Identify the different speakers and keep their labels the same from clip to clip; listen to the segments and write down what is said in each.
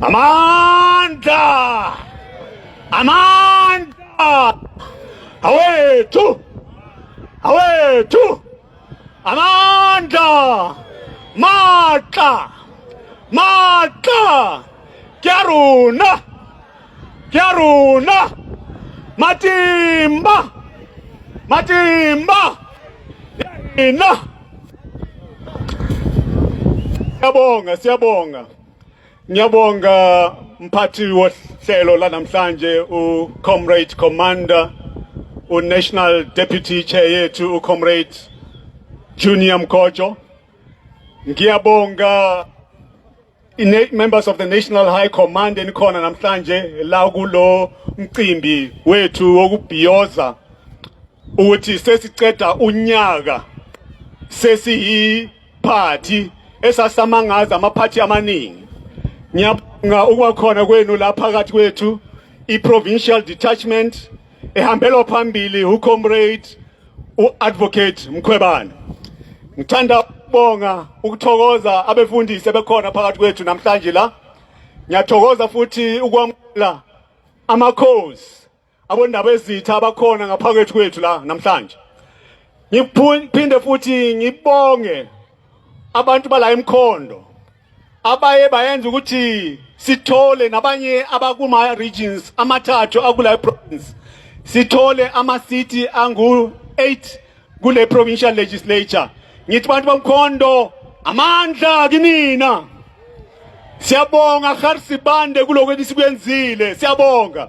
Speaker 1: Amandla! Amandla! Awethu! Awethu! Amandla! Matla! Matla! Kyaruna! Kya rona matimba matimba ina Siyabonga siyabonga ngiyabonga mphathi wohlelo lanamhlanje u Comrade Commander u National Deputy Chair yethu u Comrade Junior Mkojo ngiyabonga members of the National High Command enikhona namhlanje la kulo mcimbi wethu wokubhiyoza ukuthi sesiceda unyaka sesiyi party esasamangaza ama party amaningi ngiyabonga ukwakhona kwenu la phakathi kwethu i provincial detachment ehambelwa phambili uComrade uAdvocate Mkhwebane. Ngithanda ukubonga ukuthokoza abefundisi ebekhona phakathi kwethu namhlanje la. Ngiyathokoza futhi ukwamukela amakhosi abondaba ezitha abakhona ngaphakathi kwethu la namhlanje. Ngiphinde futhi ngibonge abantu bala emkhondo abaye bayenza ukuthi sithole nabanye abakuma regions amathathu akule province sithole ama city angu 8 kule provincial legislature ngithi bantu bomkhondo amandla kinina siyabonga Kharsibande kuloko esikwenzile siyabonga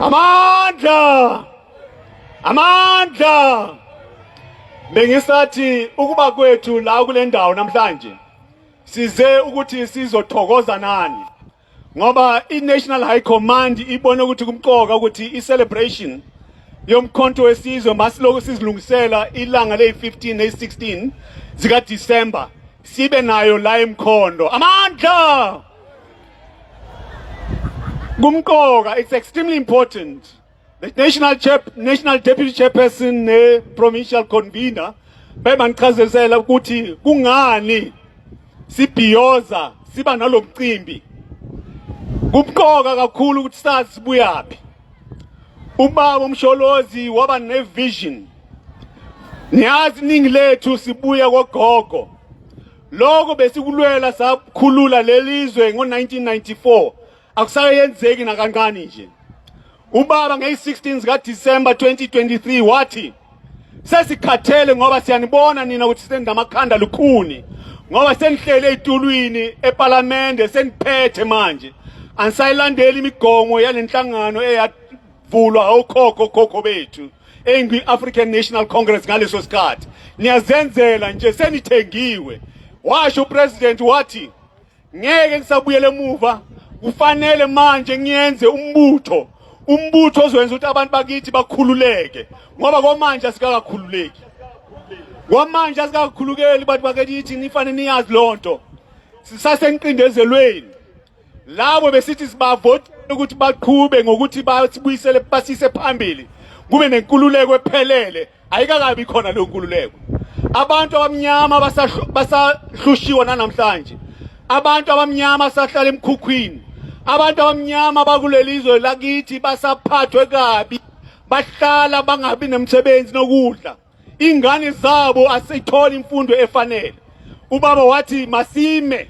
Speaker 1: amandla amandla bengisathi ukuba kwethu la kule ndawo namhlanje size ukuthi sizothokoza nani ngoba i-national high command ibone ukuthi kumqoka ukuthi i-celebration yomkhonto wesizwe masilokhu sizilungisela ilanga leyi-15 neyi-16 zikadisemba sibe nayo la emkhondo amandla kumqoka it's extremely important the national chair, national deputy chairperson ne provincial convener bebangichazisela ukuthi kungani sibhiyoza siba nalomcimbi kumqoka kakhulu ukuthi sazi buyaphi ubaba umsholozi waba nevision niyazi iningi lethu sibuya kogogo Lokho besikulwela sakhulula lelizwe ngo-1994 akusayenzeki nakancane nje. Ubaba ngeyi-16 zika December 2023 wathi sesikhathele ngoba siyanibona nina ukuthi senza amakhanda lukhuni ngoba senihlele ezitulwini eParliament seniphethe manje anisayilandeli imigomo yalenhlangano eya vulwa okhokho khokho bethu engwi-african national congress ngaleso sikhathi niyazenzela nje senithengiwe washo upresident wathi ngeke ngisabuyele emuva kufanele manje ngiyenze umbutho umbutho ozowenza ukuthi abantu bakithi bakhululeke ngoba kwamanje asikakakhululeki kwamanje asikakhulukeli bantu bakithi nifanele niyazi loo nto sisaseniqindezelweni labo besithi sibavotele ukuthi baqhube ngokuthi basibuyisele basise phambili kube nenkululeko ephelele ayikakabi khona leyo nkululeko abantu abamnyama basahlushiwa nanamhlanje abantu abamnyama sahlala emkhukhwini abantu abamnyama bakuleli zwe lakithi basaphathwe kabi bahlala bangabi nemsebenzi nokudla ingane zabo asitholi imfundo efanele ubaba wathi masime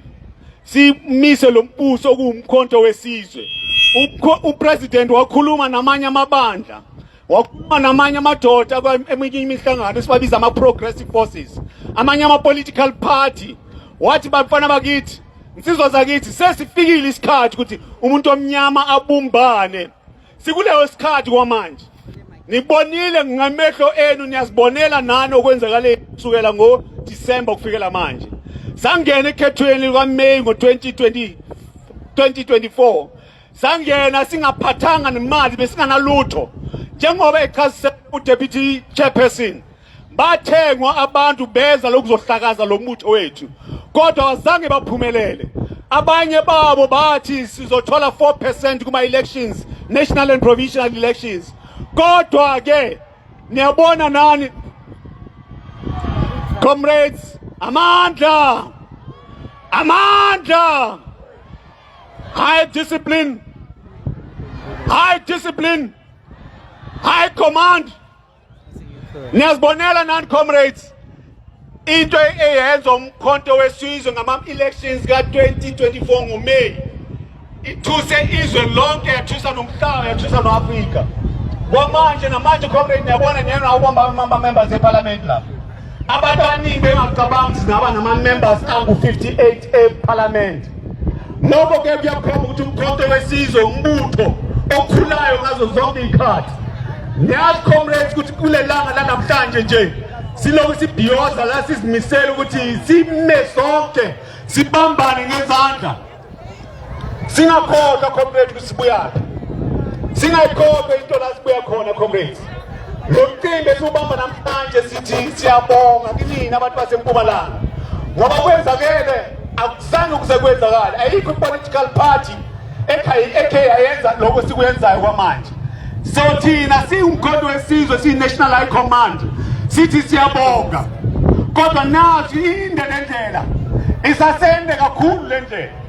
Speaker 1: simise lo mbuso okuwumkhonto wesizwe upresident wakhuluma namanye amabandla wakhuluma namanye amadoda eminye imihlangano esibabiza ama-progressive forces amanye ama-political party wathi bafana bakithi nsizwa zakithi sesifikile isikhathi ukuthi umuntu omnyama abumbane Sikuleyo sikhathi kwamanje nibonile ngamehlo enu niyazibonela nani okwenzakale kusukela ngo December kufikela manje sangena ekhethweni lika May ngo 2020 2024 sangena singaphathanga nemali besinganalutho njengoba echazise uDeputy Chairperson Bathengwa abantu beza lokuzohlakaza lo muthi wethu kodwa wazange baphumelele. Abanye babo bathi sizothola 4% kuma elections, national and provincial elections. Kodwa ke niyabona nani comrades amandla amandla high discipline high discipline high command Niyazibonela nani comrades into eyenza umkhonto wesizwe ngama-elections ka-2024 ngoMeyi ithuse izwe lonke yathusa nomhlaba yathusa no-afrika kwamanje namanje comrade niyabona niyena ubamba amamba-members ephalamenti lapho Abantu abaningi bengacabanga ukuthi singaba nama-members angu-58 ephalamende. Lokho ke kuyakhomba ukuthi umkhonto wesizwe umbutho okhulayo ngazo zonke iy'khathi. Niyazi comrades ukuthi kule langa lanamhlanje nje silokhu sibhiyoza la sizimisele ukuthi sime sonke sibambane ngezandla singakhohlwa comrade ukuthi sibuyaphi singayikhohlwa into la sibuya khona comrades lo mcimbi esiwubamba namhlanje sithi siyabonga kinina abantu basempumalanga ngoba kwenzakele akuzange ukuze kwenzakale ayikho i-political party ekhe yayenza lokho sikuyenzayo kwamanje so thina siwumkhondo wesizwe siyi-national high command sithi siyabonga kodwa nathi inde le ndlela isasende kakhulu le ndlela